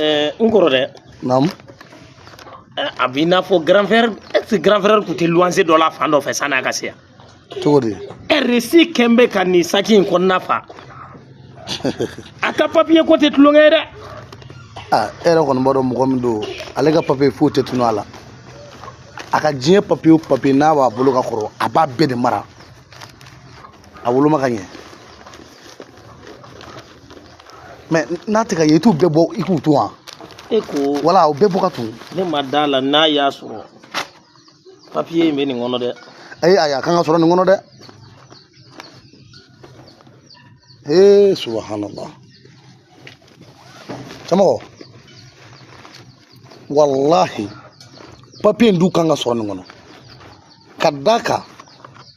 Eh, n kɔrɔ dɛ naamu eh, a b'i n'a fɔ grand frère est ce que grand frère tun tɛ luwanse dɔ la fan dɔ fɛ sanni a ka se yan cogo di resi kɛn bɛ ka nin saki in kɔnɔna fa a ka papiye ko tɛ tulonkɛ ye dɛ ah, e yɛrɛ kɔni b'a dɔn mɔgɔ min don ale ka papiye foyi tɛ tunun a la a ka diɲɛ papiye o papiye n'a b'a bolo ka kɔrɔ a b'a bɛɛ de mara a woloma ka ɲɛ mɛ n'a tɛ ka ye i t'u bɛɛ bɔ i k'u ton wa e ko wala o bɛɛ bɔ ka ton ne ma da a la n'a y'a sɔrɔ papiye in bɛ nin kɔnɔ dɛ ayi ayi a kan ka sɔrɔ nin kɔnɔ dɛ ee subahanala cɛmɔgɔ walahi papiye in dun kan ka sɔrɔ nin kɔnɔ ka d'a kan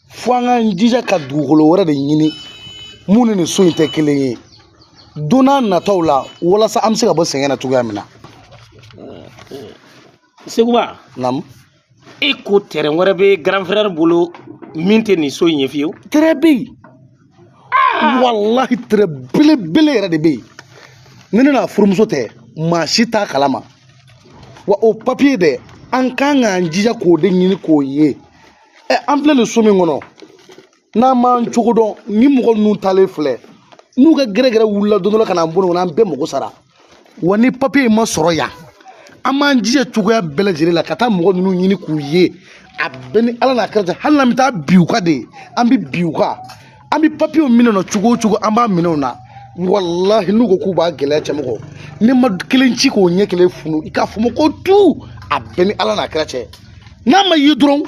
fo an k'an jija ka dugukolo wɛrɛ de ɲini min ni nin so in tɛ kelen ye don n'a nataw la walasa an bɛ se ka bɔ sɛgɛn na cogoya min na seguba naamu e ko tɛrɛn wɛrɛ bɛ grand frère bolo min tɛ nin so in ye fiyewu tɛrɛn bɛ yen ah! walahi tɛrɛn belebele yɛrɛ de bɛ yen ni ne n'a furumuso tɛ maa si t'a kalama wa o papiye dɛ an kan k'an jija k'o de ɲini k'o ye ɛ an filɛ nin so min kɔnɔ n'an m'an cogo dɔn ni mɔgɔ ninnu taalen filɛ n'u ka gɛrɛgɛrɛ wulila don dɔ la ka n'an bolo kɔnɔ an bɛɛ mago sara wa ni papiye in ma sɔrɔ yan an b'an jija cogoya bɛɛ lajɛlen la ka taa mɔgɔ ninnu ɲini k'u ye a bɛ n ni ala n'a kira cɛ hali n'an bɛ taa bin u kan de ye an bɛ bin u kan an bɛ papiyew minɛ u na cogo o cogo an b'a minɛ u na walahi n'u ko k'u b'a gɛlɛya cɛmɔgɔ ni n ma kelen ci k'o ɲɛ kelen funu i k'a fɔ ko tu a bɛ n ni ala n'a kira cɛ n'a ma ye dɔrɔn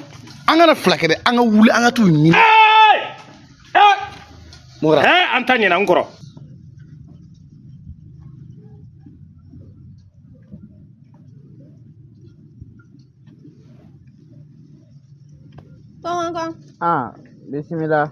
an kana fila kɛ dɛ an ka wuli an ka t'u ɲini mɔgɔ an taa ɲini n kɔrɔ Kɔnkɔn. Ah, bisimila.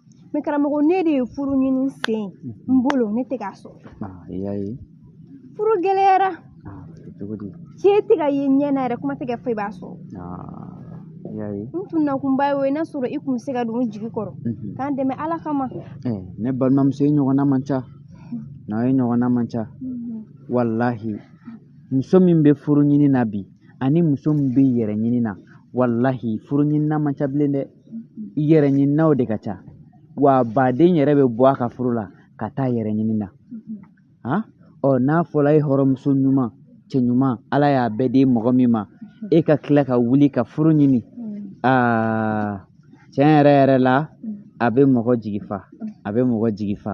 mɛ karamɔgɔ ne de ye furu ɲini sen n bolo ne tɛ k'a sɔrɔ i y'a ye furu gɛlɛyara cogo di cɛ tɛ ka ye ɲɛ na yɛrɛ kuma tɛ k'a fɔ i b'a sɔrɔ i y'a ye n tun nakunba ye o ye n'a sɔrɔ i tun bɛ se ka don n jigi kɔrɔ k'an dɛmɛ ala kama ne balimamuso e ɲɔgɔnna man ca n'a ye ɲɔgɔnna man ca walahi muso min bɛ furu ɲini na bi ani muso min bɛ yɛrɛ ɲini na walahi furu ɲinina man ca bilen dɛ yɛrɛ ɲininaw de ka ca wa baden yɛrɛ bɛ bɔ a ka furu la ka taa yɛrɛ ɲini na ɔ n'a fɔra e hɔrɔnmuso ɲuman cɛ ɲuman ala y'a bɛɛ di mɔgɔ min ma e ka tila ka wuli ka furu ɲini aa tiɲɛ yɛrɛ yɛrɛ la a bɛ mɔgɔ jigi fa a bɛ mɔgɔ jigi fa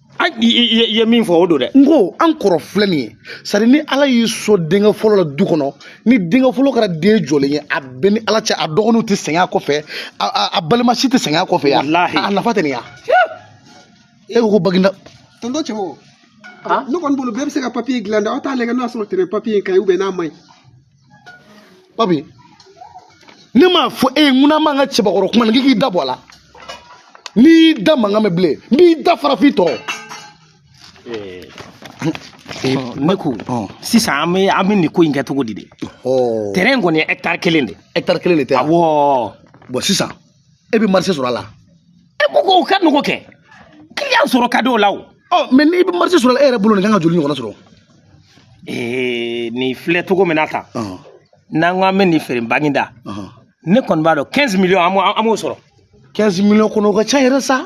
an i i- i- i ye min fɔ o don dɛ n ko an kɔrɔ filɛ nin ye c'est-à-dire ni ala y'i sɔn denkɛ fɔlɔ la du kɔnɔ ni denkɛ fɔlɔ kɛra den jɔlen ye a bɛɛ ni ala cɛ a dɔgɔninw tɛ sɛgɛn a kɔfɛ a, a, a balima si tɛ sɛgɛn a kɔfɛ yan Walahi. a nafa tɛ nin ya e ko ko baginda tonton cɛbo ne kɔni bolo bɛɛ bɛ se ka papiye dilan dɛ aw t'a lajɛ n'a sɔrɔ terrain papiye in ka ɲi n'a man ɲi papi ne m'a fɔ e ye ko n'an b'an ka cɛbakɔrɔ kuma na k'i k'i da bɔ a la ni n y'i da mankan mɛn bilen n b'i da fara f'i tɔn rɔ ne ko sisan an bɛ an bɛ nin ko in kɛ cogo di de terrain kɔni ye hectare kelen de hectare kelen de tɛ awɔ bɔn sisan e bɛ marché sɔrɔ a la e ko ko o ka nɔgɔ kɛ client sɔrɔ ka di o la o ɔ mais n'i bɛ marché sɔrɔ a la e yɛrɛ bolo nin kan ka joli ɲɔgɔnna sɔrɔ ee nin filɛ cogo min na tan ɔhɔn, n'an ko an bɛ nin feere baginda ɔhɔn. ne kɔni b'a dɔn 15 millions an b'o an b'o sɔrɔ 15 millions kɔnɔ o ka ca yɛrɛ sa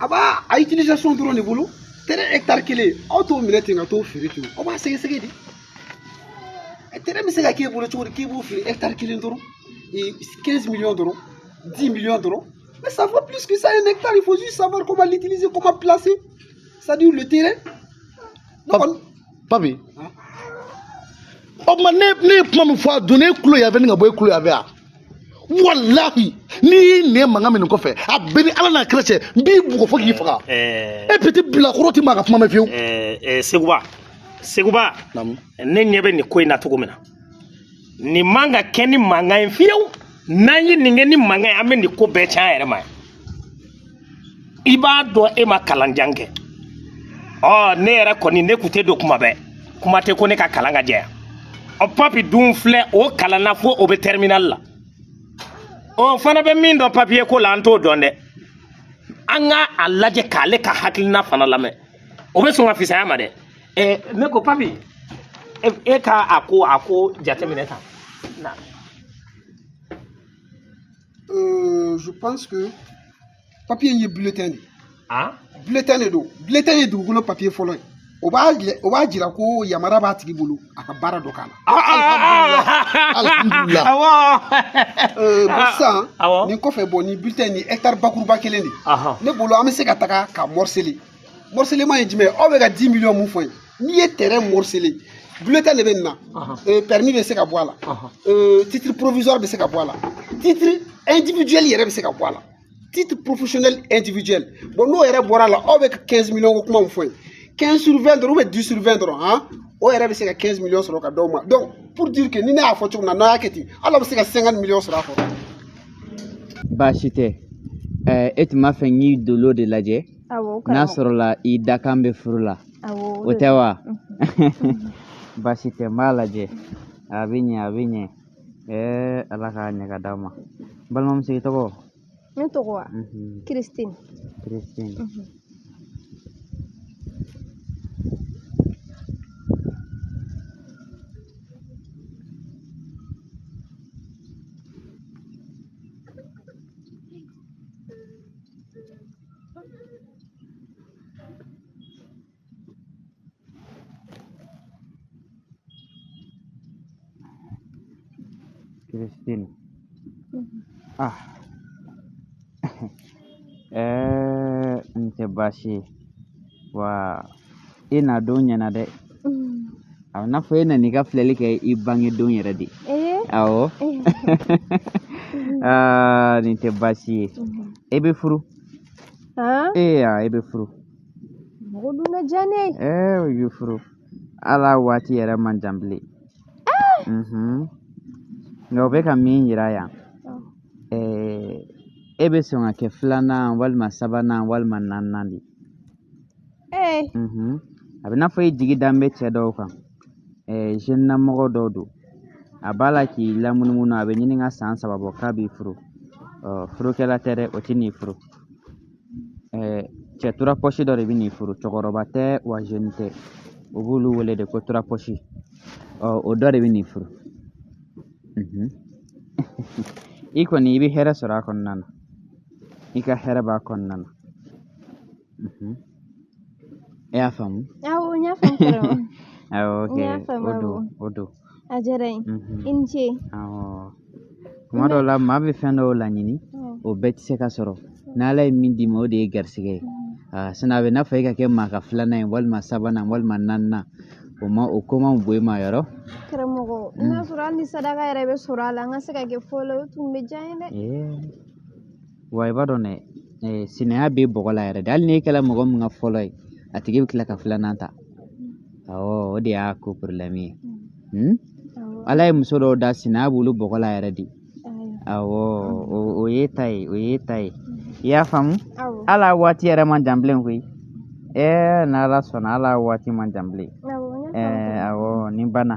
a b'a a utilisation dɔrɔn de bolo terrain hectare kelen aw t'o minɛ ten ka t'o feere ten aw b'a sɛgɛsɛgɛ de terrain bɛ se ka k'e bolo cogo di k'i b'o feere hectare kelen dɔrɔn 15 millions dɔrɔn 10 millions dɔrɔn mais ça vaut plus que ça un hectare il faut juste savoir comment l'utiliser comment placer c'est-à-dire le terrain papi o tuma ne ne ye kuma min fɔ a donna e kulo yanfɛ ni ka bɔ e kulo yanfɛ wa walahi ni n y'i nɛn mankan mɛn nin kɔfɛ a bɛɛ ni ala n'a kira cɛ n b'i bugɔ fo k'i faga e petit bilakoro tɛ maa ka kuma mɛn fiyewu seguba seguba ne ɲɛ bɛ nin ko in na cogo min na nin man ka kɛ ni mankan ye fiyewu n'an ye nin kɛ ni mankan ye an bɛ nin ko bɛɛ cɛn an yɛrɛ ma i b'a dɔn e ma kalanjan kɛ ɔ ne yɛrɛ kɔni ne kun tɛ don kuma bɛɛ kuma tɛ ko ne ka kalan ka jɛya ɔ papi dun filɛ o kalanna fo o bɛ terminal la o fana bɛ min dɔn papiye ko la an t'o dɔn dɛ an ka a lajɛ k'ale ka hakilina fana lamɛn o bɛ sɔn ka fisaya an ma dɛ ɛɛ ne ko papi e, e ka a ko a ko jateminɛ tan na Euh, je pense que papier ye bulletin de ah? bulletin de don bulletin ye dugukolo papier fɔlɔ ye o b'a o b'a jira ko yamara b'a tigi bolo a ka baara dɔ k'a la. Ah, ah, alihamudulila euh, sisan nin kɔfɛ bɔn nin bulletin nin hectare bakuruba kelen de ne bolo an bɛ se ka taga k'a morceler. morcellement ye jumɛn aw bɛ ka 10 miliyɔn mun fɔ ye n'i ye terrain morceler bulletin de bɛ nin na euh, permis bɛ se ka bɔ a la euh, titre provisoire bɛ se ka bɔ a la titre individuel yɛrɛ bɛ se ka bɔ a la titre professionnel individuel bon n'o yɛrɛ bɔra a la aw bɛ ka 15 miliyɔn ko kuma mun fɔ ye 15 sur 20 dɔrɔn ou bien 10 sur 20 dɔrɔn han o yɛrɛ bɛ se ka 15 miliyɔn sɔrɔ ka d'aw ma donc pour dire que ni ne y'a fɔ cogo min na n'aw y'a kɛ ten hali aw bɛ se ka 50 miliyɔn sɔrɔ a kɔrɔ baasi tɛ ɛɛ e tun b'a fɛ n k'i dolo de lajɛ n'a sɔrɔla i dakan bɛ furu la o tɛ wa baasi tɛ n b'a lajɛ a bɛ ɲɛ a bɛ ɲɛ ɛɛ ala k'a ɲɛ ka d'a ma balimamuso i tɔgɔ ne tɔgɔ wa Christine Christine Christine. Ah. eh, nse baasi ye wa e na don ɲɛna dɛ a n'a fɔ e nana i ka filɛli kɛ i bange don yɛrɛ de awɔ aa nin tɛ baasi ye e bɛ furu ee e bɛ furu mɔgɔ dun ka diya ne ye ee i bɛ furu ala waati yɛrɛ man jan bilen nka o bɛ ka min yira yan e bɛ sɔn ka kɛ filanan walima sabanan walima naaninan de ye Ee. Mhm. A bɛ n'a fɔ e jigi dan bɛ cɛ dɔw kan jeune na mɔgɔ dɔ don a b'a la k'i lamunumunu a bɛ ɲini ka san saba bɔ k'a b'i furu furukɛla tɛ dɛ o tɛ n'i furu cɛ tura pɔsi dɔ de bɛ n'i furu cɛkɔrɔba tɛ wa jeune tɛ u b'olu wele de ko tura pɔsi o dɔ de bɛ n'i furu mhm. i kɔni i bɛ hɛrɛ sɔrɔ a kɔnɔna na i ka hɛrɛ b'a kɔnɔna na mhm. i y'a faamu awɔ n y'a faamu awɔ ok o don o don a diyara n ye mhm. i ni ce awɔ tuma dɔw la maa bɛ fɛn dɔw laɲini o bɛɛ tɛ se ka sɔrɔ n'ala ye min d'i ma o de ye garisɛgɛ ye ah, sinɔn a bɛ n'a fɔ e ka kɛ maa ka filanan ye walima sabanan walima naaninan o ma o ko man bon e ma yɔrɔ karamɔgɔ n'a sɔrɔ hali ni sadaka yɛrɛ bɛ sɔrɔ a la an ka se ka kɛ fɔlɔ o tun bɛ diya n ye dɛ wa i b'a dɔn dɛ sinaya b'e bɔgɔ la yɛrɛ de hali n'e kɛra mɔgɔ min ka fɔlɔ ye a tigi bɛ tila ka filanan ta awɔ o de y'a ko problème ye ala ye muso dɔw da sinaya b'olu bɔgɔ la yɛrɛ de awɔ o y'e ta ye o y'e ta ye i y'a faamu ala waati yɛrɛ man jan bilen koyi ɛɛ n'ala sɔnna ala waati man jan bilen ɛɛ awɔ nin banna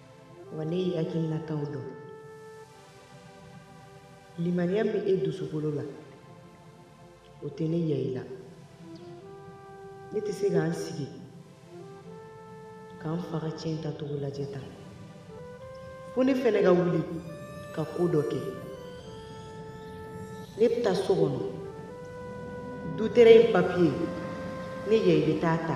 Wa ne y'i hakilinataw dɔn. Limaniya min e dusukolo la, o tɛ ne yɛrɛ la. Ne tɛ se ka n sigi ka n fa ka ciyɛn tacogo lajɛ tan. Fo ne fana ka wuli ka ko dɔ kɛ. Ne bɛ taa so kɔnɔ. Du tɛrɛn in papiye, ne yɛrɛ bɛ taa a ta.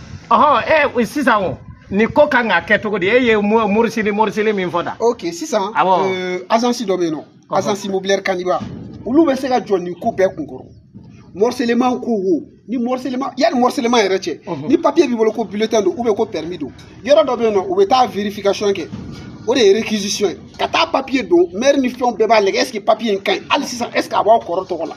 ɔhɔn ɛ eh, sisan o nin ko kan ka kɛ cogo di e ye morisili morisili min fɔ da. ok sisan awɔ euh, agence dɔ bɛ yen nɔ agence immobilière kaniba olu bɛ se ka jɔ nin ko bɛɛ kun kɔrɔ morcellement ko wo ni morcellement yanni morcellement yɛrɛ cɛ mhm. ni papier b'i bolo ko bulletin don ou bien ko permis don yɔrɔ dɔ bɛ yen nɔ u bɛ taa vérification kɛ o de ye réquisition ye ka taa papier don maire ni fɛnw bɛɛ b'a lajɛ est ce que papier in ka ɲi hali sisan est ce que a b'aw kɔrɔ tɔgɔ la.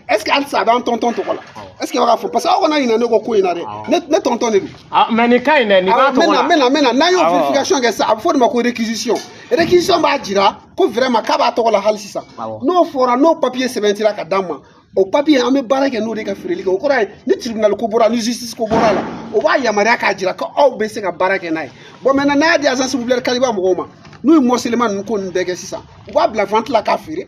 est-ce que halisa a b'an tonton tɔgɔ la est ce que a b'a fɔ parce que aw kana ɲinɛ ne kɔ ko in na dɛ ne tonton de don. mais nin ka ɲi dɛ nin b'a tɔgɔ la maintenant maintenant n'an y'o verification kɛ sisan a bɛ fɔ de ma ko réquisition réquisition b'a jira ko vraiment k'a b'a tɔgɔ la hali sisan n'o fɔra n'o papier sɛbɛntira ka d'an ma o papier an bɛ baara kɛ n'o de ka feereli kɛ o kɔrɔ ye ni tribunal ko bɔra ni justice ko bɔra la o b'a yamaruya k'a jira ko aw bɛ se ka baara kɛ n'a ye bon maintenant n'a y'a di agence immobilière kaniba mɔgɔw ma n'u ye morcellement ninnu ko ninnu bɛɛ kɛ sisan u b'a bila vente la k'a feere.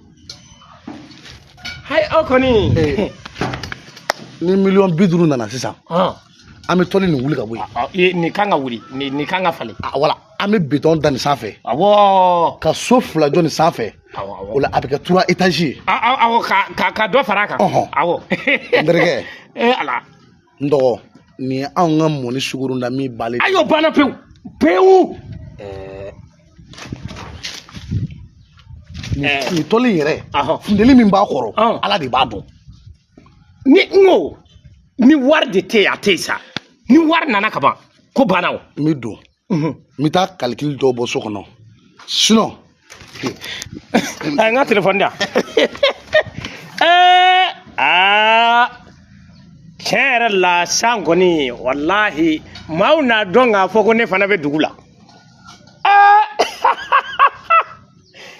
hayi aw kɔni ni miliyɔn bi duuru nana sisan an bɛ tɔli nin wuli ka bɔ yen nin kan ka wuli nin kan ka falen voilà an bɛ bitɔn da nin sanfɛ awɔ ka so fila jɔ nin sanfɛ o la a bɛ kɛ trois étages ye awɔ ka dɔ fara a kan awɔ n terikɛ ee ala n dɔgɔ nin ye anw ka mɔni sugoro na min bali a y'o banna pewu pewu nin tɔli yɛrɛ funteni min b'a kɔrɔ ala de b'a dɔn ni n ko ni wari de tɛ yen a tɛ yen sa ni wari nana kaban ko banna o n bɛ don n bɛ taa kalikili dɔw bɔ so kɔnɔ sinɔn a ye n ka telefɔni di yan ɛɛ aa tiɲɛ yɛrɛ la san kɔni walahi maaw n'a dɔn k'a fɔ ko ne fana bɛ dugu la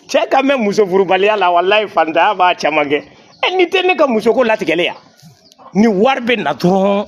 cɛ ka mɛn muso furubaliya la walahi fantanya b'a caman kɛ ɛ n'o tɛ ne ka musoko latigɛlen yan ni wari bɛ na dɔrɔn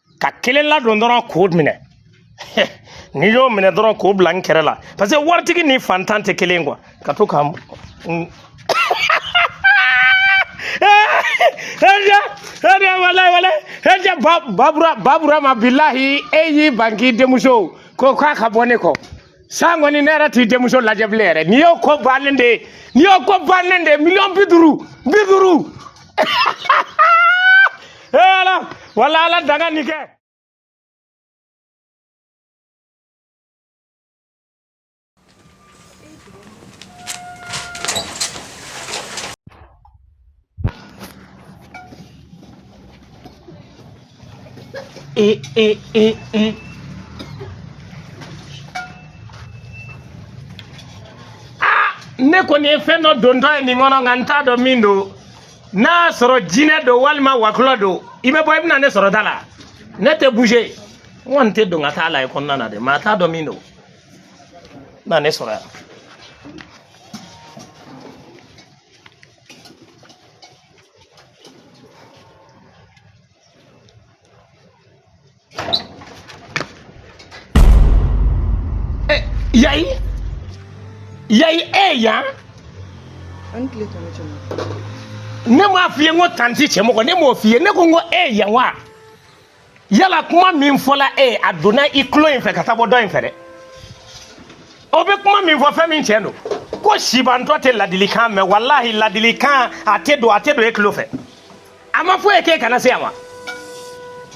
ka kelen ladon dɔrɔn k'o minɛ n'i y'o minɛ dɔrɔn k'o bila n kɛrɛ la parce que waritigi ni fantan tɛ kelen quoi ka to ka babura babura ma bilahi e y'i ban k'i denmuso ko k'a ka bɔ ne kɔ san kɔni ne yɛrɛ t'i denmuso lajɛ bilen yɛrɛ n'i y'o ko bannen de ye n'i y'o ko bannen de ye miliyɔn bi duuru bi duuru ee ala wala ala danga nin kɛ ne kɔni ye fɛn dɔ dontɔ ye nin kɔnɔ nka n t'a dɔn min don n'a y'a sɔrɔ jinɛ don walima wɔkulɔ don i bɛ bɔ i bɛna ne sɔrɔ da la ne tɛ bouger n kɔni tɛ don ka t'a lajɛ kɔnɔna na dɛ maa t'a dɔn min don na ne sɔrɔ yan Eh, Yayi, Yayi e yan. An tile tɔ ne cɛ ma. Ne m'a f'i ye n ko tanti Cɛmɔgɔ ne m'o f'i ye ne ko n ko e yan wa. yala kuma min fɔla e ye a donna i tulo in fɛ ka taa bɔ dɔ in fɛ dɛ o bɛ kuma min fɔ fɛn min tiɲɛ don ko sibantɔ tɛ ladilikan mɛn walahi ladilikan a tɛ don a tɛ don e tulo fɛ a ma fɔ e k'e kana se yan wa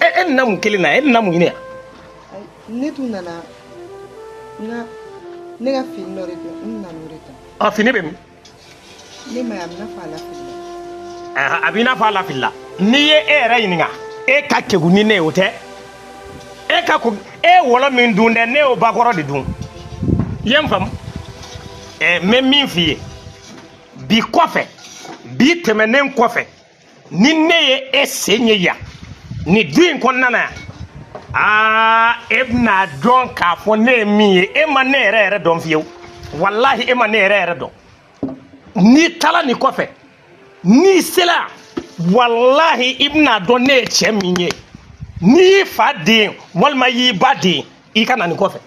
e e nana mun kelen na e nana mun ɲini yan ne tun nana n ka ne ka fini dɔ de don n nana o de ta ɔ fini bɛ min ne m'a ye a b'i n'a fɔ a lafilila a b'i n'a fɔ a lafilila n'i ye e yɛrɛ ɲininka e ka kegun ni ne ye o tɛ e ka ko e ye wɔlɔ min dun dɛ ne y'o bakɔrɔ de dun i ye n faamu n bɛ min f'i ye bi kɔfɛ bi tɛmɛnen kɔfɛ ni ne ye e sen ye yan nin du in kɔnɔna na yan aa e bɛna dɔn k'a fɔ ne ye min ye e ma ne yɛrɛ yɛrɛ dɔn fiyewu walahi e ma ne yɛrɛ yɛrɛ dɔn n'i taara nin kɔfɛ n'i sera walahi i bɛna dɔn ne ye cɛ min ye n'i y'i fa den walima i y'i ba den i ka na nin kɔfɛ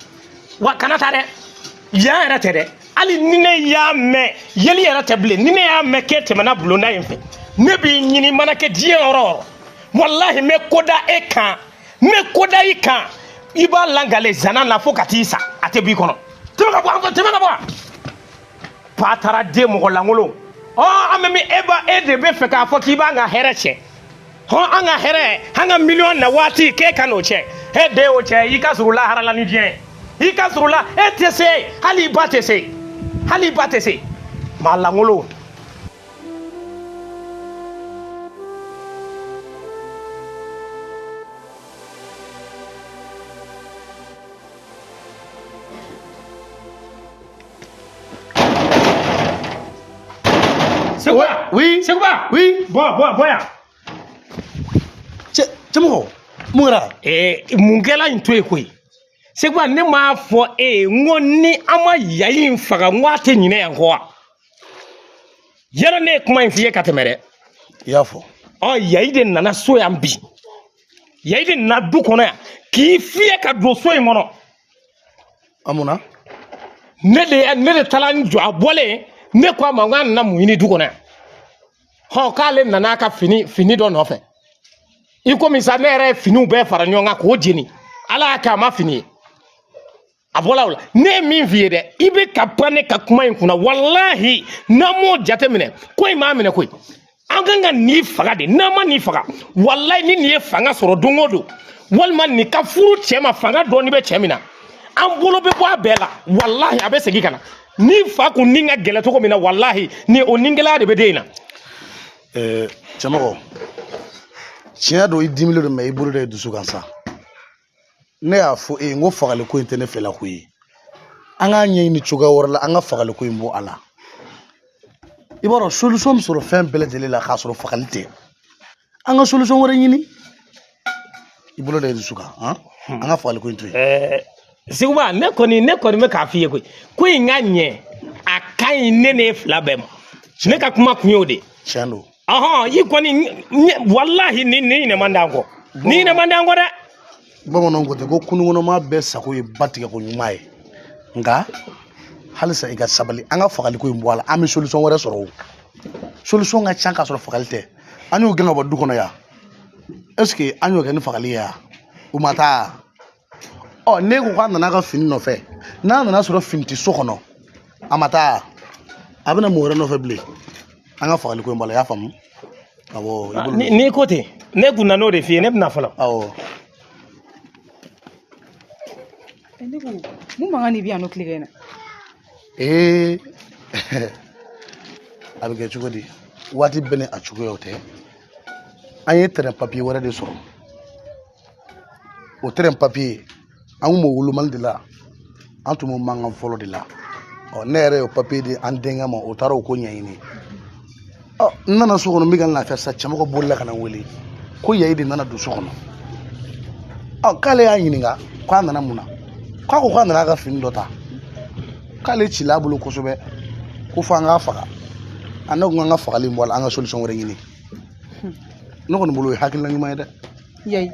wa kana taa dɛ yan yɛrɛ tɛ dɛ hali ni ne y'a mɛn yeli yɛrɛ tɛ bilen ni ne y'a mɛn k'e tɛmɛna bulonda in fɛ ne b'i ɲini mana kɛ diɲɛ yɔrɔ o yɔrɔ walahi n bɛ ko da e kan n bɛ ko da i kan i b'a lakali zana la fo ka t'i sa a tɛ b'i kɔnɔ tɛmɛ ka bɔ an fɛ tɛmɛ ka bɔ yan bataraden mɔgɔ lankolon ɔ an bɛ min e ba e de bɛ fɛ k'a fɔ k'i b'an ka hɛrɛ tiɲɛ hɔn an ka hɛrɛ an ka miliyɔn na waati k'e ka n'o tiɲɛ e de y'o tiɲɛ i ka surun lahara la ni diɲɛ i ka surun la e tɛ se hali i ba tɛ se hali i ba tɛ se maa lankolon Seguba oui Seguba oui bɔ bɔ bɔ yan cɛmɔgɔ mun kɛra ɛɛ mun kɛra in to yen koyi Seguba ne m'a fɔ e ye n ko ni an ma yayi in faga n ko a tɛ ɲinɛ yan kɔ wa yala ne ye kuma in f'i ye ka tɛmɛ dɛ i y'a fɔ ɔ yayi de nana so yan bi yayi de nana du kɔnɔ yan k'i fiyɛ ka don so in kɔnɔ an munna ne de ne de taara n jɔ a bɔlen ne ko a ma n k'a nana mun ɲini du kɔnɔ yan hɔ k'ale nana ka fini fini dɔ nɔfɛ i komi sa ne yɛrɛ ye finiw bɛɛ fara ɲɔgɔn kan k'o jeni ala y'a kɛ a ma fini ye a bɔla o la ne ye min f'i ye dɛ i bɛ ka pan ne ka kuma in kunna walahi n'an m'o jateminɛ ko in b'an minɛ koyi an kan ka nin faga de n'an ma nin faga walayi ni nin ye fanga sɔrɔ don o don walima nin ka furu cɛ ma fanga dɔɔni bɛ cɛ min na an bolo bɛ bɔ a bɛɛ la walahi a bɛ segin ka na nin fa kun ni ka gɛlɛn cogo min na walahi ni o nigɛlɛya de bɛ den in na. ɛɛ cɛmɔgɔ tiɲɛ don i dimilen don mais i bolo da i dusu kan sa. ne y'a fɔ e ye n ko fagali ko in tɛ ne fɛla ko ye an k'a ɲɛɲini cogoya wɛrɛ la an ka fagali ko in bɔ a la i b'a dɔn solution bɛ sɔrɔ fɛn bɛɛ lajɛlen la k'a sɔrɔ fagali tɛ an ka solution wɛrɛ ɲini i bolo da i dusu kan an hmm. ka fagali ko in to yen. Eh, seguba ne kɔni ne kɔni bɛ k'a f'i ye koyi ko in ka ɲɛ a ka ɲi ne n'e fila bɛɛ ma ne ka kuma kun y'o de ye. tiɲɛ don. ahɔn i kɔni walahi nin ɲinɛ man di an kɔ nin ɲinɛ man di an kɔ dɛ bamananw ko ten ko kurunkɔnɔmaa bɛɛ sago ye ba tigɛ ko ɲuman ye nka halisa i ka sabali an ka fagali ko in bɔ a la an bɛ solution wɛrɛ sɔrɔ o solution ka ca k'a sɔrɔ fagali tɛ an y'o gɛn ka bɔ du kɔnɔ yan est ce que an y'o kɛ ni fagali ye yan o ma taa ɔ ne ko k'a nana ka fini nɔfɛ n'a nana sɔrɔ fini tɛ so kɔnɔ a ma taa a bɛ na mun wɛrɛ nɔfɛ bilen an ka fagali ko in bɔ a la i y'a faamu awɔ n'i ko ten ne kun nan'o de f'i ye ne bɛna fɔlɔ awɔ ne ko mun mankan de bɛ yan nɔ tile kɛ na ee a bɛ kɛ cogo di waati bɛɛ ni a cogoyaw tɛ an ye terrain papier wɛrɛ de sɔrɔ o tɛrɛn papiye an kun b'o wolomali de la an tun b'o mankan fɔlɔ de la ɔ ne yɛrɛ y'o papiye di an denkɛ ma o taara o ko ɲɛɲini ɔ n nana so kɔnɔ n bɛ ka n lafiya sisan cɛmɔgɔ bolila ka na n wele ko yayi de nana don so kɔnɔ ɔ k'ale y'a ɲininka k'a nana mun na k'a ko k'a nana a ka fini dɔ ta k'ale cila a bolo kosɛbɛ ko fo an k'a faga a ne ko an ka fagali bɔ a la an ka solisɔn wɛrɛ ɲini ne kɔni bolo o ye hakilina ɲuman ye dɛ yayi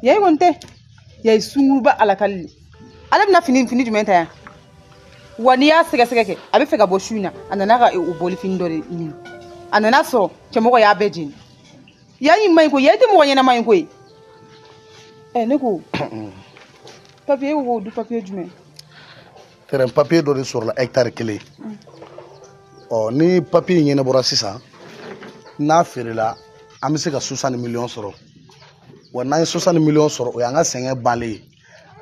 yayi kɔni tɛ yayi sunguruba alakali le ale bɛna fini fini jumɛn ta yan wa n'i y'a sɛgɛsɛgɛ kɛ a bɛ fɛ ka bɔ su in na a nana ka o bɔli fini dɔ de ɲini a nana sɔrɔ cɛmɔgɔ y'a bɛɛ jeni yayi man ɲi koyi yayi tɛ mɔgɔ ɲɛnama ye koyi ɛ ne ko papiye ko du papiye jumɛn tɛrɛn papiye dɔ de sɔrɔla hɛkitari kelen ɔ ni papiye in ɲɛnabɔra sisan n'a feerela an bɛ se ka sosani miliyɔn sɔrɔ wa n'an ye sosani miliyɔn sɔrɔ o y'an ka sɛgɛn bannen ye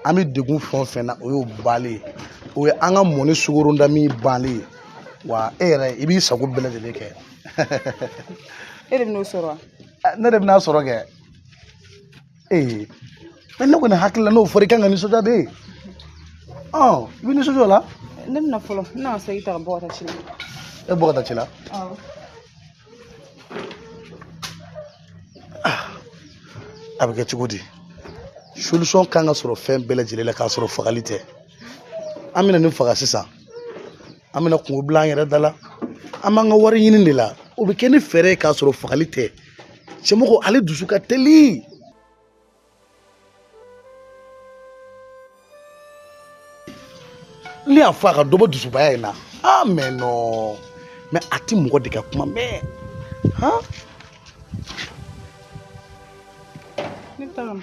an bɛ degun fɛn o fɛn na o y'o bannen ye o ye an ka mɔni sukorontan min bannen ye wa e yɛrɛ i b'i sago bɛɛ lajɛlen kɛ e de bɛn'o sɔrɔ wa ne de bɛn'a sɔrɔ kɛ ee mɛ ne kɔni hakili la n'o fɔra i kan ka nisɔndiya de i bɛ nisɔndiya o la ne bɛna fɔlɔ ne na segin ta ka bɔ ka taa ci la e bɔ ka taa ci la awɔ a bɛ kɛ cogo di solution kan ka sɔrɔ fɛn bɛɛ lajɛlen la k'a sɔrɔ fagali tɛ an bɛna nin faga sisan an bɛna kunko bila an yɛrɛ da la an b'an ka wari ɲini de la o bɛ kɛ ni fɛɛrɛ ye k'a sɔrɔ fagali tɛ cɛmɔgɔ ale dusu ka teli ne y'a fɔ a ka dɔ bɔ dusubaya in na ah mɛ non mɛ a ti mɔgɔ de ka kuma mɛn han ne tagama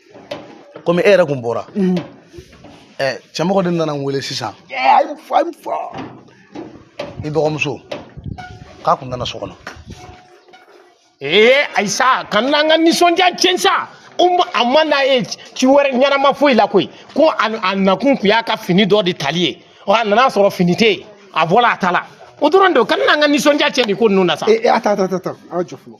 komi e yɛrɛ kun bɔra mm. eh, cɛmɔgɔ de nana n wele sisan i dɔgɔmuso k'a kun nana so kɔnɔ ee ayi sa kana an ka nisɔndiya tiɲɛ sa a ma na yen ci wɛrɛ ɲɛnama foyi la koyi ko a nakun kun y'a ka fini dɔ de tali ye a nana sɔrɔ fini tɛ yen a bɔra a taala o dɔrɔn de kana an ka nisɔndiya tiɲɛ nin ko ninnu na sa. ee attends attends attends attends an ka jɔ fɔlɔ.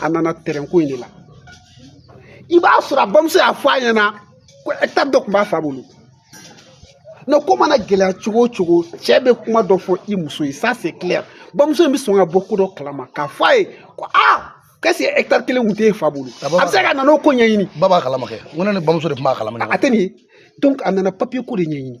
a nana tɛrɛn ko in de la i b'a sɔrɔ a bamuso y'a fɔ a ɲɛna ko hectare dɔ tun b'a fa bolo non ko mana gɛlɛya cogo o cogo cɛ bɛ kuma dɔ fɔ i muso ye ça c'est clair bamuso in bɛ sɔn ka bɔ ko dɔ kalama k'a fɔ a ye ko aa kɛsi hectare kelen kun t'e fa bolo a bɛ se ka na n'o ko ɲɛɲini ba b'a kalama kɛ n ko ne ni bamuso de tun b'a kalama a tɛ nin ye donc a nana papier ko de ɲɛɲini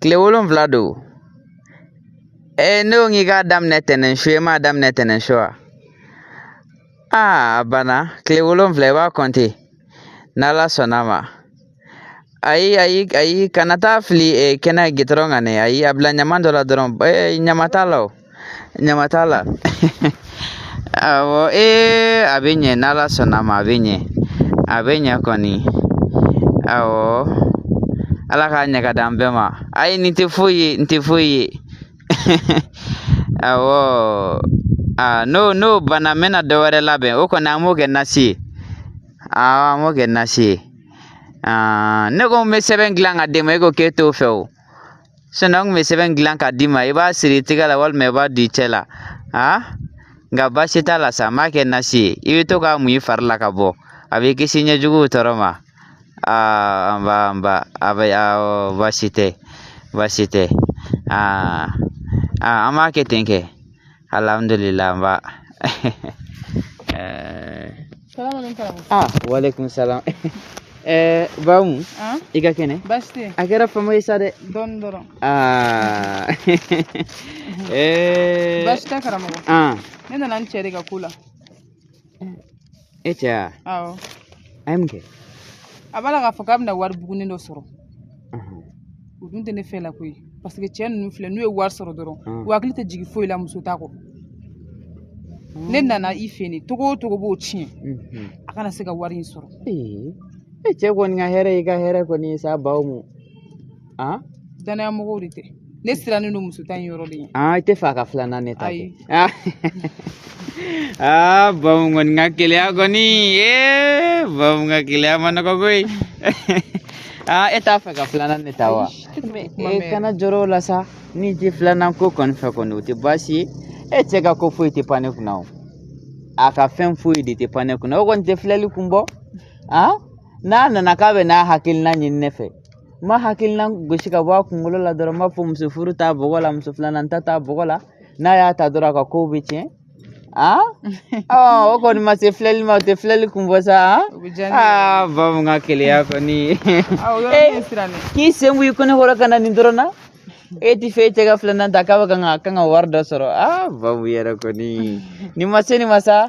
kile wolonfila don ee ne ko k'i k'a daminɛ tɛnɛn su e m'a daminɛ tɛnɛn su wa aa a banna kile wolonfila i b'a kɔnte n'ala sɔnna ma ayi ayi ayi kana taa fili e, kɛnɛ gɛ dɔrɔn kan dɛ ayi a bila ɲama dɔ la dɔrɔn e, ɲama t'a la o ɲama t'a la awɔ ee a bɛ ɲɛ n'ala sɔnna ma a bɛ ɲɛ a bɛ ɲɛ kɔni awɔ ala k'a ɲɛ ka di an bɛɛ ma ayi nin tɛ foyi ye nin tɛ foyi ye awɔ aa n'o n'o banna n bɛna dɔ wɛrɛ labɛn o kɔni an b'o kɛ nasi ye awɔ an b'o kɛ nasi ye ne ko n bɛ sɛbɛn dilan ka d'e ma e ko k'e t'o fɛ o Sinɔn n kun bɛ sɛbɛn dilan k'a d'i ma i b'a siri i tɛgɛ la walima i b'a don i cɛ la a nka baasi t'a la sa n b'a kɛ nasi ye i bɛ to k'a mun i fari la ka bɔ a b'i kisi ɲɛjuguw tɔɔrɔ ma aa nba nba a bɛ awɔ baasi tɛ baasi tɛ aa an b'a kɛ ten kɛ alhamdulillah nba ah walaikum salam eh bamu ah? i ka kɛnɛ a kɛra fama ye sa dɛ dɔɔni dɔrɔn ah. eh. baasi tɛ karamɔgɔ ah. ne nana n cɛ de ka ko la e cɛ wa awɔ a ye mun kɛ a b'a la k'a fɔ k'a bɛna wari bugunin dɔ sɔrɔ o dun tɛ ne fɛ la koyi paseke cɛ ninnu filɛ n'u ye wari sɔrɔ dɔrɔn u hakili tɛ jigin foyi la muso ta kɔ ne nana i fɛ nin cogo o cogo b'o tiɲɛ a kana se ka wari in sɔrɔ e cɛ kɔni ka hɛrɛ y'i ka hɛrɛ kɔni ye sa bamu an danaya mɔgɔw de tɛ ne sirannen don muso ta in yɔrɔ de ye i t'a fɛ a ka filanan ne ta ye aa bamu kɔni ka keleya kɔni ee bamu ka keleya ma nɔgɔ koyi aa e t'a fɛ ka filanan ne ta wa e kana jɔrɔ o la sa n'i tɛ filanan ko kɔni fɛ kɔni o tɛ baasi ye e cɛ ka ko foyi tɛ pan ne kunna o a ka fɛn foyi de tɛ pan ne kunna o kɔni tɛ filɛli kun bɔ a n'a nana k'a bɛna hakilina ɲini ne fɛ n b'a hakilina gosi ka bɔ a kunkolo la dɔrɔn n b'a fɔ muso furu t'a bɔgɔ la muso filanan ta t'a bɔgɔ la n'a y'a ta dɔrɔn a ka kow bɛ tiɲɛ aa o kɔni ma se filɛli ma o tɛ filɛli kun bɔ sa aa bamu ka keleya kɔni k'i sen b'i kɔnɔ kɔrɔ ka na nin dɔrɔn na e t'a fɛ e cɛ ka filanan ta k'a bɛ kan ka kan ka wari dɔ sɔrɔ aa bamu yɛrɛ kɔni nin ma se nin ma sa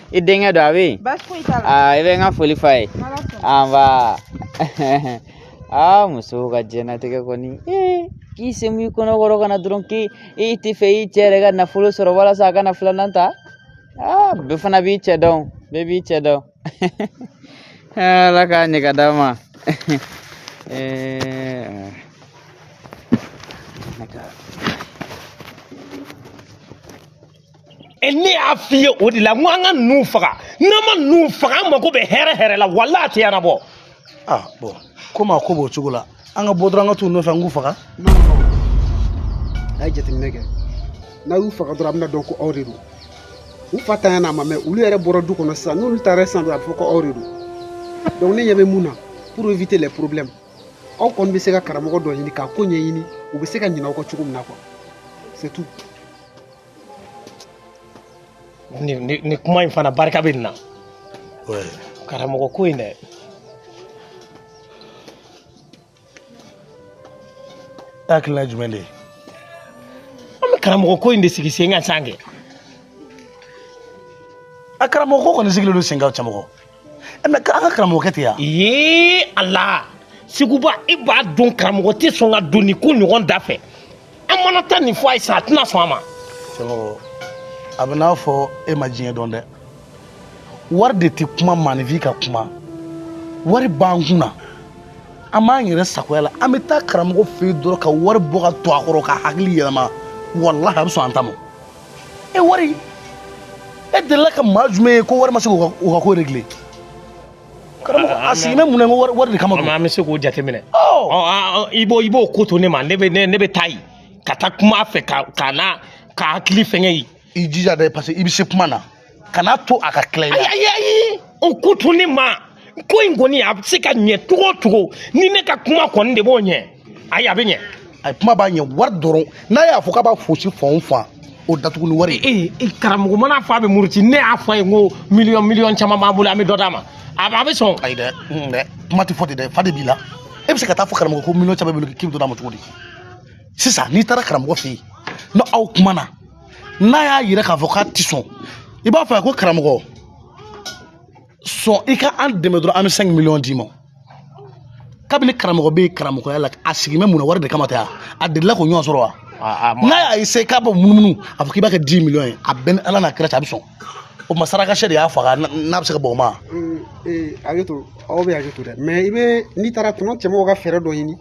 i denkɛ don a bɛ yen aa i bɛ n ka foli f'a ye anba aa musow ka diɲɛnatigɛ kɔni k'i semu i kɔnɔkɔrɔ kana dɔrɔn k'i t'a fɛ i cɛ yɛrɛ ka nafolo sɔrɔ walasa a kana filanan ta aa bɛɛ fana b'i cɛ dɔn bɛɛ b'i cɛ dɔn ala k'a ɲɛ ka d'a ma ne y'a f'i ye o de la n ko an ka ninnu faga n'an ma ninnu faga an mako bɛ hɛrɛ hɛrɛ la walahi a tɛ ɲɛnabɔ. aa ah, bɔn komi a ko b'o cogo la an ka bɔ dɔrɔn an ka t'u nɔfɛ an k'u faga. a ye jateminɛ kɛ n'a y'u faga dɔrɔn a bɛna dɔn ko aw de don u fa tanya n'a ma mɛn olu yɛrɛ bɔra du kɔnɔ sisan n'olu taara sisan dɔrɔn a bɛ fɔ ko aw de don donc ne ɲɛ bɛ mun na pour éviter les problèmes aw kɔni bɛ se ka karamɔgɔ dɔ ɲini k'a ko ɲɛɲini u bɛ se ka ɲinɛ aw kɔ cogo min na quoi c'est tout. ni, ni, ni kuma in fana barika bɛ nin na Ouais. karamɔgɔ ko in dɛ Hakilina jumɛn de ye? an bɛ karamɔgɔ ko in de sigi sen kan sa kɛ A karamɔgɔ ko kɔni sigilen don sen kan cɛmɔgɔ. Eh, mɛ an ka karamɔgɔkɛ tɛ yan ee ala seguba i b'a dɔn karamɔgɔ tɛ sɔn ka don nin ko ɲɔgɔn da fɛ an mana taa nin fɔ a ye sa a tɛna sɔn a ma cɛmɔgɔ a bɛn'a fɔ e ma diɲɛ dɔn dɛ wari de tɛ kuma maaninfin ka kuma wari b'an kun na an b'an yɛrɛ sagoya la an bɛ taa karamɔgɔ fɛ yen dɔrɔn ka wari bɔ ka to a kɔrɔ k'a hakili yɛlɛma walahi a bɛ sɔn an ta ma e wari e delila ka maa jumɛn ye ko wari ma se k'o ka ko régler karamɔgɔ a sigi bɛ mun na ko wari de kama don an bɛ se k'o jateminɛ i b'o i b'o ko to ne ma ne bɛ ne bɛ taa yen ka taa kuma a fɛ ka ka na k'a hakili fɛngɛ yen i jija dɛ parce que i bɛ se kuma na kana to a ka tila i la ayi ayi o ko to ne ma ko in kɔni a bɛ se ka ɲɛ cogo o cogo ni ne ka kuma kɔni de b'o ɲɛ ayi a bɛ ɲɛ a ye kuma b'a ɲɛ wari dɔrɔn n'a y'a fɔ k'a b'a fosi fan o fan o datugu ni wari ye ee ee, karamɔgɔ man'a fɔ a bɛ muruti ne y'a fɔ a ye n ko miliyɔn miliyɔn caman b'an bolo an bɛ dɔ d'a ma a bɛ a bɛ sɔn ayi dɛ n dɛ kuma tɛ fɔ ten dɛ fa de b'i la e bɛ se ka taa fɔ karamɔgɔ ko miliyɔn caman b'i bolo k'i bɛ dɔ d'a ma cogo di sisan n'i taara karamɔgɔ fɛ yen n'aw kumana n'a y'a yira k'a fɔ k'a tɛ sɔn i b'a fɔ a ko karamɔgɔ sɔn i ka an dɛmɛ dɔrɔn an bɛ cinq millions d'i ma kabini karamɔgɔ bɛ karamɔgɔya la a sigi bɛ mun na wari de kama tɛ wa a delila k'o ɲɔgɔn sɔrɔ wa n'a y'a essayé k'a bɛ munumunu a fɔ k'i b'a kɛ dix millions ye a bɛ n ni ala n'a kira cɛ a bɛ sɔn o ma sarakasɛ de y'a faga n'a bɛ se ka bɔ o ma. hakɛto aw bɛ hakɛto dɛ mɛ i bɛ n'i taara tuma cɛmɔgɔ aw ka fɛɛrɛ dɔ ɲini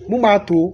mun b'a to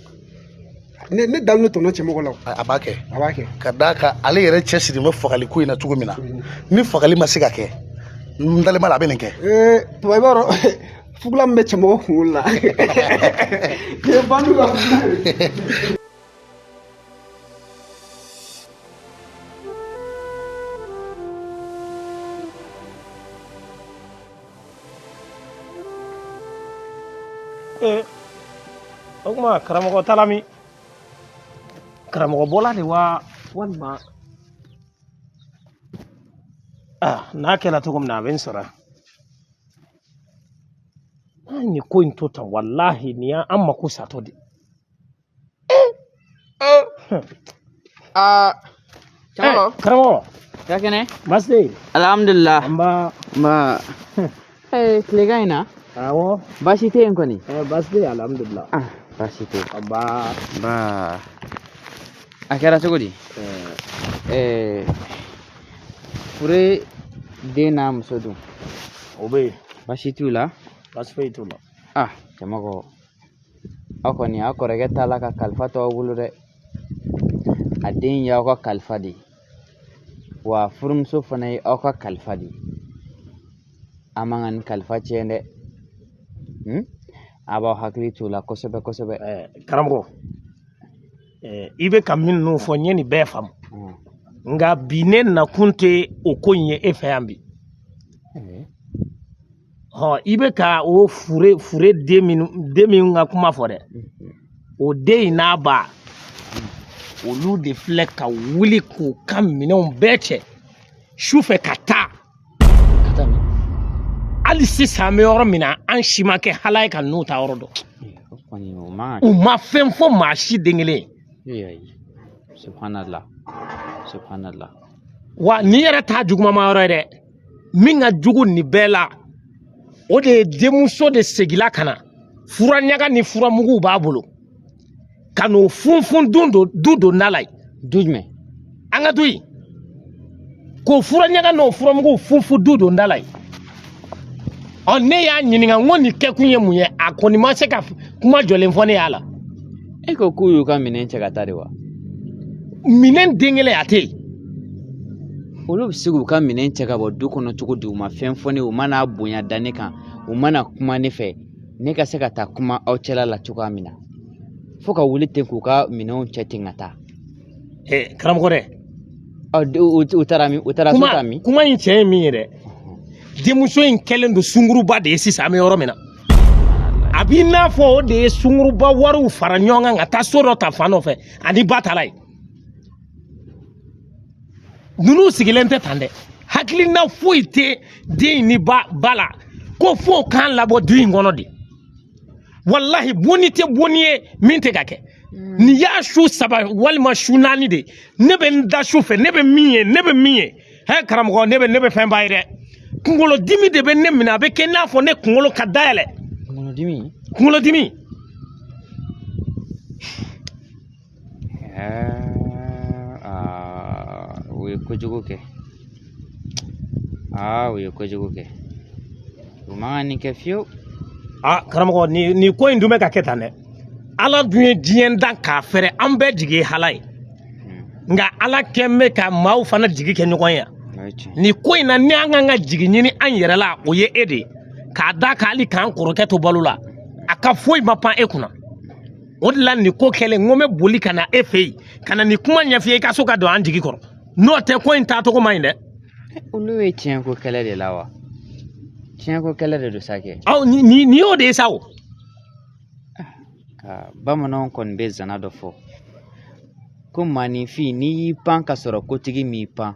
ne ne dalen don tɔnɔ cɛmɔgɔ la a b'a kɛ a b'a kɛ ka d'a kan ale yɛrɛ cɛsiri bɛ fagali ko in na cogo min na mm. ni fagali ma se ka kɛ n dalen b'a la a bɛ nin kɛ ee tubabu i b'a dɔn fugula min bɛ cɛmɔgɔ kunkolo la ko nin ye bandu ka fugula ee o tuma karamɔgɔ taara min karamɔgɔ bɔla de wa walima aa n'a kɛra cogo min na a bɛ n sɔrɔ yan an ye ko in to tan walahi nin y'an mako satɔ de ye a karamɔgɔ karamɔgɔ i ka kɛnɛ baasi tɛ yen alihamudulila nba ee tilegan in na awɔ baasi tɛ yen kɔni baasi tɛ yen alihamudulila baasi tɛ yen nba a kɛra cogo di ɛɛ fure den n'a muso dun o bɛ yen baasi t'u la baasi foyi t'u la ah cɛmɔgɔ aw kɔni aw kɔrɔkɛ taara ka kalifa to aw bolo dɛ a den y'aw ka kalifa de ye wa furumuso fana ye aw ka kalifa de ye aw man ka nin kalifa tiɲɛ dɛ hmm? aw b'aw hakili t'o la kosɛbɛ kosɛbɛ karamɔgɔ i bɛ ka minnu fɔ n ye n y'a bɛɛ faamu hmm. nka bi ne nakun tɛ o ko in ye e fɛ yan bi hmm. ɔ i bɛ ka o fure fure den min den min ka kuma fɔ dɛ o den in n'a ba olu de filɛ ka wuli k'u ka minɛnw bɛɛ cɛ su fɛ ka taa hali sisan an bɛ yɔrɔ min na an si ma kɛ ala ye ka n'u taayɔrɔ dɔn u ma fɛn fɔ maa si den kelen ye wa nin yɛrɛ t'a juguman yɔrɔ ye dɛ min ka jugu nin bɛɛ la o de ye denmuso de seginna ka na fura ɲaga ni furamuguw b'a bolo ka n'o funfun don don du donda la yen du jumɛn an ka du yen k'o fura ɲaga n'o furamuguw funfun du donda la yen ɔ ne y'a ɲininka n ko nin kɛkun ye mun ye a kɔni ma se ka kuma jɔlen fɔ ne y'a la e ko k'u y'u ka minɛn cɛ ka taa de wa minɛn den kelen a tɛ yen olu bɛ se k'u ka minɛn cɛ ka bɔ du kɔnɔ cogo di u ma fɛn fɔ ne ye u ma na bonya da ne kan u ma na kuma ne fɛ ne ka se ka taa kuma aw cɛla la cogoya min na fo ka wuli ten k'u ka minɛnw cɛ ten ka taa karamɔgɔ dɛ u taara min u taara so ta min kuma in tiɲɛ ye min ye dɛ denmuso in kɛlen don sunguruba de ye sisan an bɛ yɔrɔ min na a b'i n'a fɔ o de ye sunguruba wariw fara ɲɔgɔn kan ka taa so dɔ ta fan dɔ fɛ a ni ba taara yen ninnu sigilen tɛ tan dɛ hakilina foyi tɛ den in ni ba la ko fo k'an labɔ du in kɔnɔ de walahi bonni tɛ bonni ye min tɛ ka kɛ mm. nin y'a su saba walima su naani de ne bɛ n da su fɛ ne bɛ min ye ne bɛ min ye hɛ karamɔgɔ ne bɛ ne bɛ fɛn ba ye dɛ kunkolodimi de bɛ ne minɛ a bɛ kɛ n'a fɔ ne kunkolo ka dayɛlɛ kunkolodimi kunkolodimi u ye kojugu kɛ aa u ye kojugu kɛ u man kan nin kɛ fiyewu a karamɔgɔ nin nin ko in dun bɛ ka kɛ tan dɛ ala dun ye diɲɛ dan k'a fɛrɛ an bɛɛ jigi ye ala ye nka ala kɛn bɛ ka maaw fana jigi kɛ ɲɔgɔn ye nin ko in na ni an kan ka jigi ɲini an yɛrɛ la o ye e de ye k'a da kan hali k'an kɔrɔkɛ to balo la a ka foyi ma pan e kunna o de la nin ko kɛlen n ko n bɛ boli ka na e fɛ yen ka na nin kuma ɲɛf'i ye i ka sɔn ka don an jigi kɔrɔ n'o tɛ ko in taacogo man ɲi dɛ olu ye tiɲɛko kɛlɛ de la wa tiɲɛko kɛlɛ de don sa kɛ aw ni ni ni y'o de ye sa o ka bamananw kɔni bɛ zana dɔ fɔ ko maaninfin n'i y'i pan ka sɔrɔ kotigi m'i pan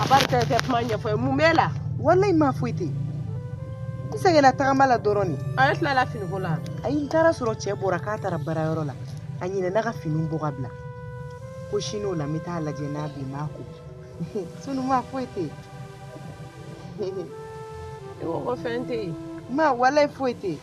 a b'a kɛ kɛ kuma ɲɛfɔ n ye mun b'e la walayi ma foyi tɛ n sɛgɛnna tagama la dɔrɔn de a ye tilala finiko la ayi n taara sɔrɔ cɛ bɔra k'a taara baarayɔrɔ la a ɲinɛna ka finiw bɔ ka bila ko sini o la n bɛ taa lajɛ n'a bɛ n b'a ko sini ma foyi tɛ yen i ko ko fɛn tɛ yen ma walayi foyi tɛ yen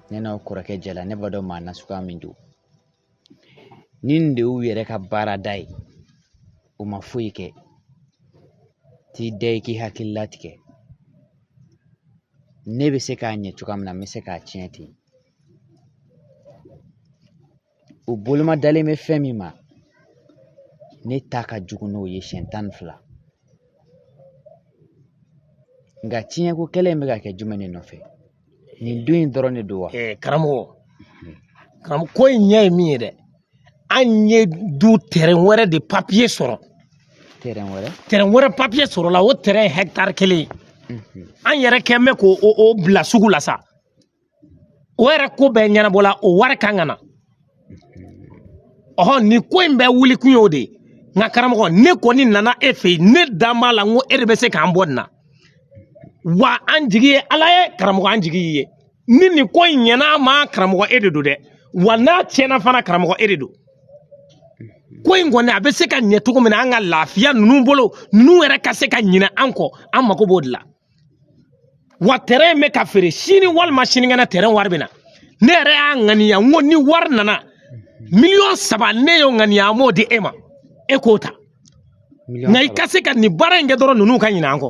ne n'aw kɔrɔkɛ jɛla ne b'a dɔn maa nasuguya min don ni nin de y'u yɛrɛ ka baarada ye o ma foyi kɛ t'i da i k'i hakili latigɛ ne bɛ se k'a ɲɛ cogoya min na n bɛ se k'a tiɲɛ ten o boloma dalen bɛ fɛn min ma ne ta ka jugu n'o ye siɲɛ tan ni fila nka tiɲɛko kɛlɛ in bɛ ka kɛ jumɛn de nɔfɛ nin du in dɔrɔn de don wa eh, karamɔgɔ karamɔgɔ ko in ɲɛ ye min ye dɛ an ye du tɛrɛn wɛrɛ de papiye sɔrɔ tɛrɛn wɛrɛ tɛrɛn wɛrɛ papiye sɔrɔla o tɛrɛn hɛkitari kelen mhm. an yɛrɛ kɛn bɛ k'o bila sugu la sa o yɛrɛ ko bɛɛ ɲɛnabɔla o wari kan ka na ɔhɔn nin ko in bɛɛ wuli kun y'o de ye nka karamɔgɔ ne kɔni nana e fɛ yen ne dan b'a la n ko e de bɛ se k'an bɔ nin na wa an jigi ye ala ye karamɔgɔ an jigi y'i ye ni nin ko in ɲɛna a ma karamɔgɔ e de don dɛ wa n'a tiɲɛna fana karamɔgɔ e de don ko in kɔni a bɛ se ka ɲɛ cogo min na an ka lafiya ninnu bolo ninnu yɛrɛ ka se ka ɲinɛ an kɔ an mago b'o de la wa tɛrɛn in bɛ ka feere sini walima sinikɛnɛ tɛrɛn wari bɛ na ne yɛrɛ y'a ŋaniya n ko ni wari nana miliyɔn saba ne y'o ŋaniya an b'o di e ma e k'o ta nka i ka se ka nin baara in kɛ dɔrɔn ninnu ka ɲinɛ an kɔ